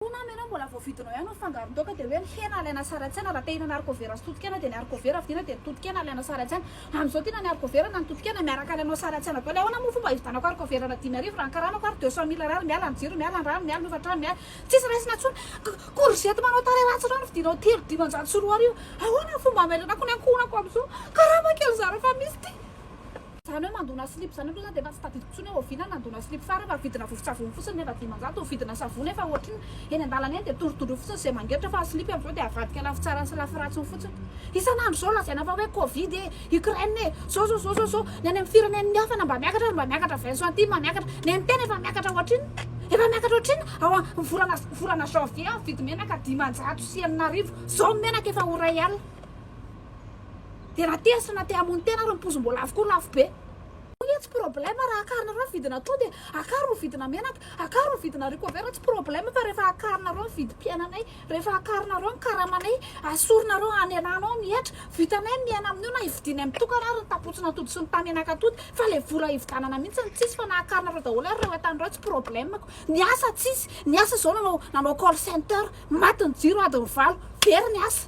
Hono ama ianao mbola vao vidinao ihany ny fangaron-daoka dia hoe ny hena alaina sary an-tsaina raha te hihinana harikovera sy totokena dia ny harikovera vidiana dia ny totokena alaina sary an-tsaina amin'izao tia na ny harikovera na ny totokena miaraka alainao sary an-tsaina daholo ahoana moa fomba hividanako harikovera na dimy arivo raha ny karamako ary deux cent mille Ar miala ny jiro miala ny rano miala ny hofantrano miala tsisy raisina intsony courgette manao tarehy ratsy ireo no vidianao telo dimanjato sy roa arivo ahoana ny fomba hamerenako ny ankohonako amin'izao karama kely zara fa misy ity Izany hoe mandona slip izany aloha za dia efa tsy tadidiko intsony hoe oviana ny nandona slip farany fa vidina vovon-tsavony fotsiny nefa dimanjato ny vidina savony efa ohatriny eny an-dalana eny dia tory dondro fotsiny izay mangeritra fa ny slip amin'izao dia avadika lafy tsarany sy lafy ratsiny fotsiny. Isan'andro izao lazaina fa hoe covid e, Ukraine e, zao zao zao zao zao, ny any amin'ny firenen'ny hafa na mba miakatra aza mba miakatra vingt centimes miakatra, ny an'ny tena efa miakatra ohatr'inona? Efa miakatra ohatr'inona? Ao amin'ny volana volana janvier ny vidim-enaka dimanjato sy enina arivo, izao ny menaka efa ho iray alina. Dia raha tesina te hamono tena ary ny poison mbola avokoa lafo be. Hoy aho tsy problème raha akarinareo ny vidina atody e, akaro ny vidina menaka, akaro ny vidina haricots-verts tsy problème fa rehefa akarinareo ny vidim-piainanay, rehefa akarinareo ny karamanay, asorinareo any elanao ny hetra, vitanay ny miaina amin'io na hividianay mitokana ary ny tapotsin'atody sy ny tamenak'atody fa ilay vola hividanana mihitsy no tsisy fa na akarinareo daholo ary ireo entana ireo tsy problemeko, ny asa tsisy, ny asa izao nanao nanao call center, maty ny jiro adiny valo, very ny asa.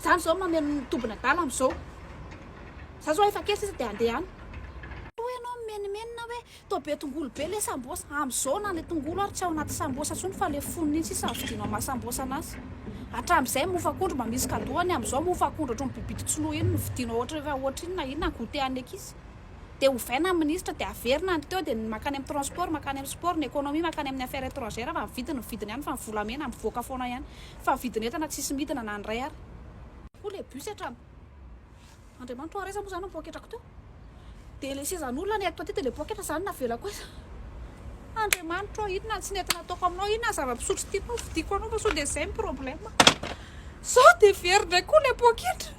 Zany zao mameno ny tombin'adala amzao. Za zao efa kely sisa de andeha any. Hoy ianao mimenimenina hoe toa be tongolo be le sambosa. Amzao na le tongolo ary tsy ao anaty sambosa tsony fa le fonony iny sisa vidianao maha sambosa anazy. Hatramzay mofo akondro mba misy kadoany amzao mofo akondro otriny bibidy tsy lo iny no vidianao ohatry efa ohatry inona inona ny goûter an'ny ankizy. De ovaina ny ministra de averina ny teo de ny makany amin'ny transport makany amin'ny sport, ny economie makany amin'ny affaires etrangères fa ny vidiny ny vidiny ihany fa ny volamena mivoaka foana ihany. fa vidin'entana tsisy midina na ny iray ary. Koa ilay bus hatrany. Andriamanitra oa ary aiza moa izany ny poketrako teo? Dia ilay sezan'olona nentiko aty dia ilay poketra izany navelako aiza? Andriamanitra oa inona ny tsy nety nataoko aminao? Inona ny zava-pisotro tianao vidiako anao fa sao dia izay ny problème? Sao dia very indray koa ilay poketra?